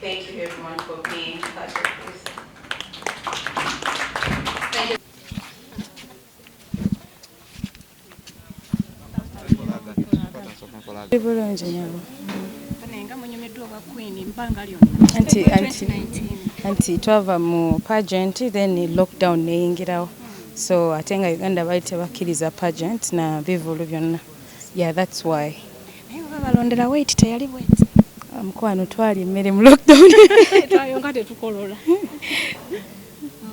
Thank you everyone for being part of this. Thank you. Bulungi nyabo. Banenga munyumiddwa obwa Queen ebbanga lyonna. Anti anti anti twava mu pageant then lockdown neyingirawo. So ate nga Uganda bali tebakkiriza pageant na bivulu byonna. Yeah that's why. Naye baba balondera weight teyali bweti. Ah, mukwano twali emmere mu lockdown. Twayonga tetukolola.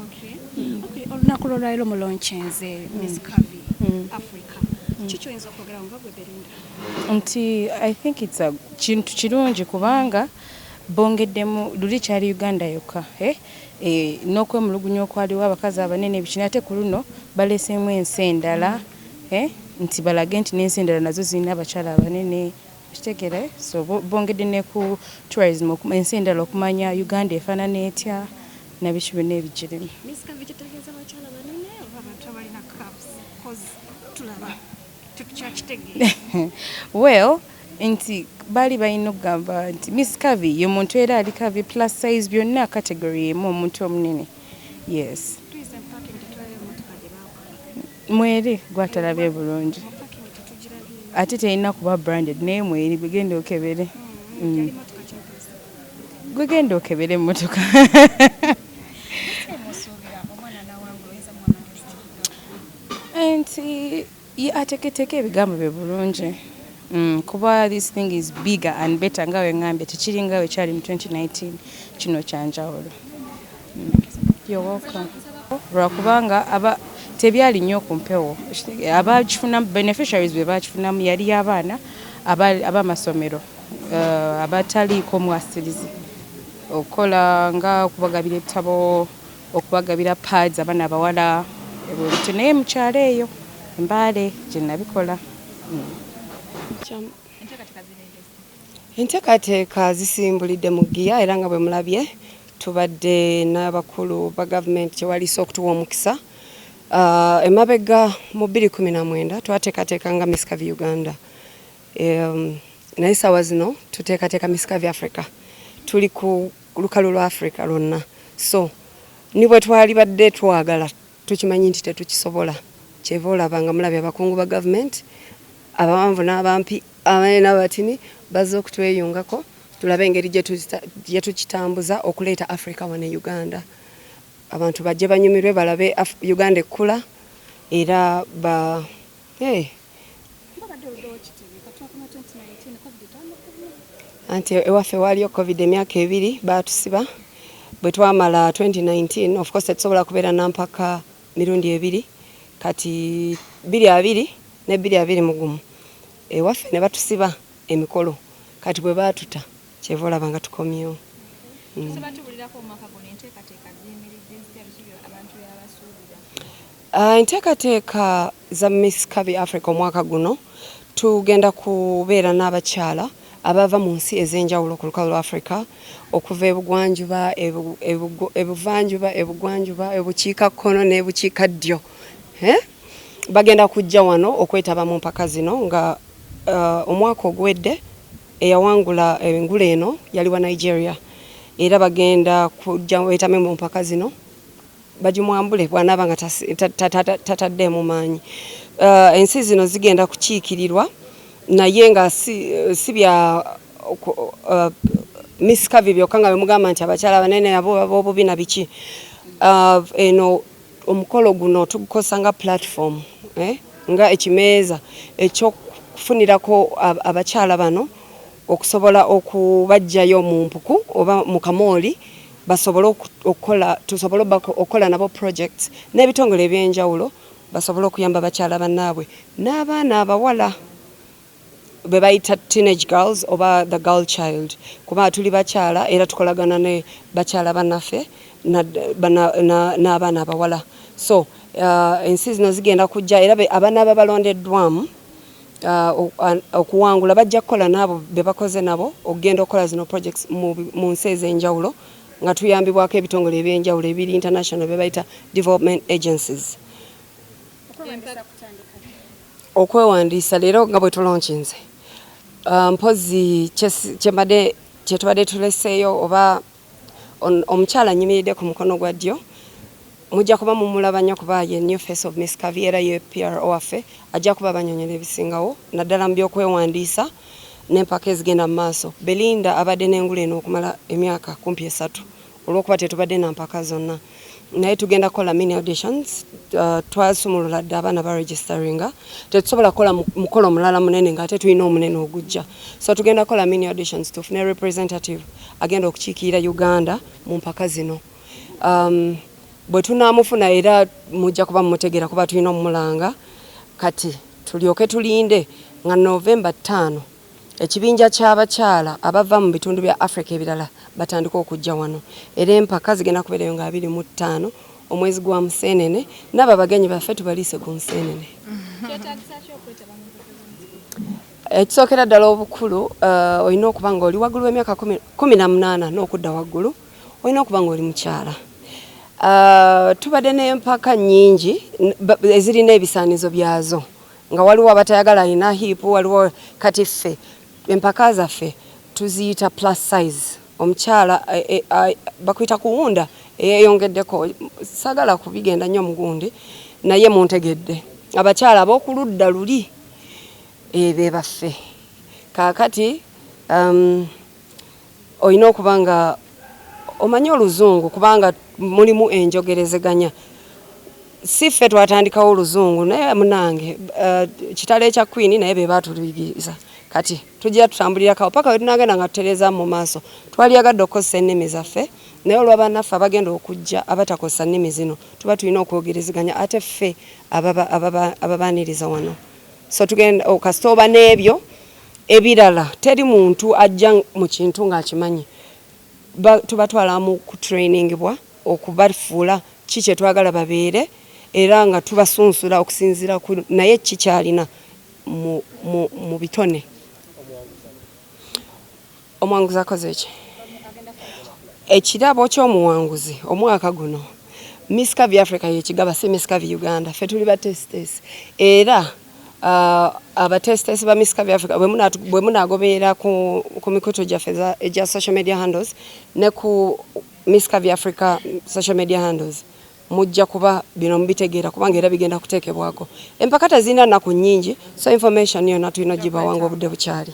Okay. Mm. Okay, olunaku lwolwaliro mu lonchenze Miss mm. Kavi mm. Africa. Mm. Kiki oyinza okwogera nga gwe Belinda? Nti I think it's a kintu kirungi kubanga bongeddemu luli kyali Uganda yokka. Eh? Eh, n'okwemulugunya okwaliwo abakazi abanene ebikina ate ku luno baleseemu ensi endala. Mm. nti balage nti nensi endala nazo zirina abakyala abanene okitegeera eh so bongedde ne ku tourism ensi endala okumanya Uganda efanana etya nabiki byonna ebigirimu Miss Kavi kitegeeza bakyala banene oba abantu abalina cups cause tulaba tetukyakitegeera well nti baali balina okugamba nti Miss Kavi ye muntu era ali Kavi plus size byonna category emu omuntu omunene yes Mweri gwatalabye bulungi ate telina kuba branded naye mweri gwe genda okebere mm. gwe genda okebere emotoka nti ateketeka ebigambo bye bulungi mm, kuba this thing is bigger and better nga wengambye tekiringa wekyali mu 2019 kino kyanjawulo lwakubanga aba tebyali nnyo ku mpewo abakifunamu beneficiaries be bakifunamu yali abaana abamasomero eh, abataliiko mwasirizi okukola nga okubagabira ebitabo okubagabira pads abaana abawala ebintu naye mukyalo eyo embaale gye nabikola hmm. Enteekateeka zisimbulidde mu ggiya era nga bwe mulabye tubadde n'abakulu ba gavumenti gye waliise okutuwa omukisa ah, emabega mu bbiri kkumi na mwenda twateekateeka nga Miss Curvy Uganda naye saawa zino tuteekateeka Miss Curvy Africa tuli ku lukalu lwa Africa lwonna so ni bwe twalibadde twagala Tukimanyi nti tetukisobola kyeva olaba nga mulabye abakungu ba government abawanvu n'abampi abanene n'abatini bazze okutweyungako tulabe engeri gyetukitambuza okuleeta Africa wano e Uganda abantu bajje banyumirwe balabe Uganda ekkula era ba hey. anti ewaffe waaliyo covid emyaka ebiri baatusiba bwe twamala 2019 of course tetusobola kubeera nampaka mirundi ebiri kati biri abiri ne biri abiri mugumu ewaffe ne batusiba emikolo kati bwe baatuta Kyeva olaba nga tukomyewo. Tusobola tubulirako omwaka guno enteekateeka ziyimiridde zitya biki abantu byabasuubira? Uh, enteekateeka za Miss Kabi Africa omwaka guno tugenda kubeera n'abakyala abava mu nsi ez'enjawulo ku lukalu lwa Africa okuva ebugwanjuba ebuvanjuba ebugwanjuba ebukiika kkono n'ebukiika ddyo eh? bagenda kujja wano okwetaba mu mpaka zino nga uh, omwaka oguwedde Eyawangula engule eno yali wa Nigeria era bagenda kujja wetame mu mpaka zino bagimwambule bwanaaba nga tataddeemu maanyi. Uh, ensi zino zigenda kukiikirirwa naye nga si, si bya uh, misikavi byokka nga bemugamba nti abakyala banene abo baba obubi na biki uh, eno Omukolo guno tugukozesa nga platform eh, nga ekimeeza ekyokufunirako abakyala bano okusobola okubajjayo mu mpuku oba mu kamooli basobole okukola tusobole okukola nabo projects n'ebitongole ebyenjawulo basobole okuyamba bakyala banaabwe n'abaana abawala bebayita teenage girls oba the girl child kuba tuli bakyala era tukolagana ne bakyala banaffe n'abaana abawala so uh, ensi zino zigenda kujja era abaana aba balondeddwamu uh, okuwangula bajja kukola naabo bebakoze nabo okugenda okukola zino projects mu nsi ez'enjawulo nga tuyambibwako ebitongole eby'enjawulo ebiri international bebayita development agencies okwewandiisa leero nga bwe tulonkinze uh, mpozi kyembadde kyetubadde tuleseeyo oba omukyala anyimiridde ku mukono gwa ddyo mujja kuba mumulaba nnyo kuba ye new face of miss kavi era ye pro waffe ajja kuba banyonyola ebisingawo naddala mu byokwewandiisa n'empaka ezigenda mu maaso belinda abadde n'engula eno okumala emyaka kumpi esatu olwokuba tetubadde na mpaka zonna naye tugenda kukola mini auditions uh, twasumulula dda abaana ba registeringa tetusobola kukola mukolo omulala munene nga ate tulina omunene ogujja so tugenda kukola mini auditions tufune representative agenda okukiikirira uganda mu mpaka zino um, bwe tunaamufuna era mujja kuba mumutegeera kuba tulina omumulanga kati tulyoke tulinde nga novemba ttaano Ekibinja ky'abakyala abava mu bitundu bya Africa ebirala batandika okujja wano era empaka zigenda kubeerayo nga abiri mu ttaano omwezi gwa Museenene nabo abagenyi baffe tubaliise ku Nseenene. Ekisookera ddala obukulu uh, olina okuba nga oli waggulu w'emyaka kumi na munaana n'okudda waggulu olina okuba nga oli mukyala. Uh, tubadde n'empaka nnyingi ezirina ebisaanizo byazo. nga waliwo abatayagala alina hip waliwo kati ffe empaka zaffe tuziyita plus size omukyala e, e, e, bakuyita kuwunda eyeyongeddeko sagala kubigenda nnyo mugundi naye muntegedde abakyala abokuludda luli ebe baffe kakati um, Olina okuba nga omanyi oluzungu kubanga mulimu enjogerezeganya. Si ffe twatandikawo oluzungu naye munange uh, kitalo ekya kwini naye be baatuluyigiriza kati tujja tutambulirakawo paka wetunagenda nga tutereeza mu maaso twaliyagadde okukozesa ennimi zaffe naye olwa banaffe abagenda okujja abatakozesa nnimi zino tuba tulina okwogerezeganya ate ffe ababaaniriza wano so tugenda oh, kasita oba n'ebyo Ebirala teri muntu ajja mu kintu ng'akimanyi. Ba, tubatwala mu kutrainingibwa okubafuula ki kye twagala babeere, era nga tubasunsula okusinziira ku naye ki ky'alina mu, mu, mu bitone. Omuwanguzi akoze ki? Ekirabo ky'omuwanguzi omwaka guno Miss Curvy Africa yekigaba si Miss Curvy Uganda. Ffe tuli ba testes era uh, abatestes ba Miss Curvy Africa bwe munagobeera ku, ku mikutu gyaffe egya social media handles ne ku Miss Curvy Africa social media handles mujja kuba bino mubitegeera kubanga era bigenda kuteekebwako. Empaka tezirina nnaku nnyingi so information yonna tulina ogibawanga obudde bukyali.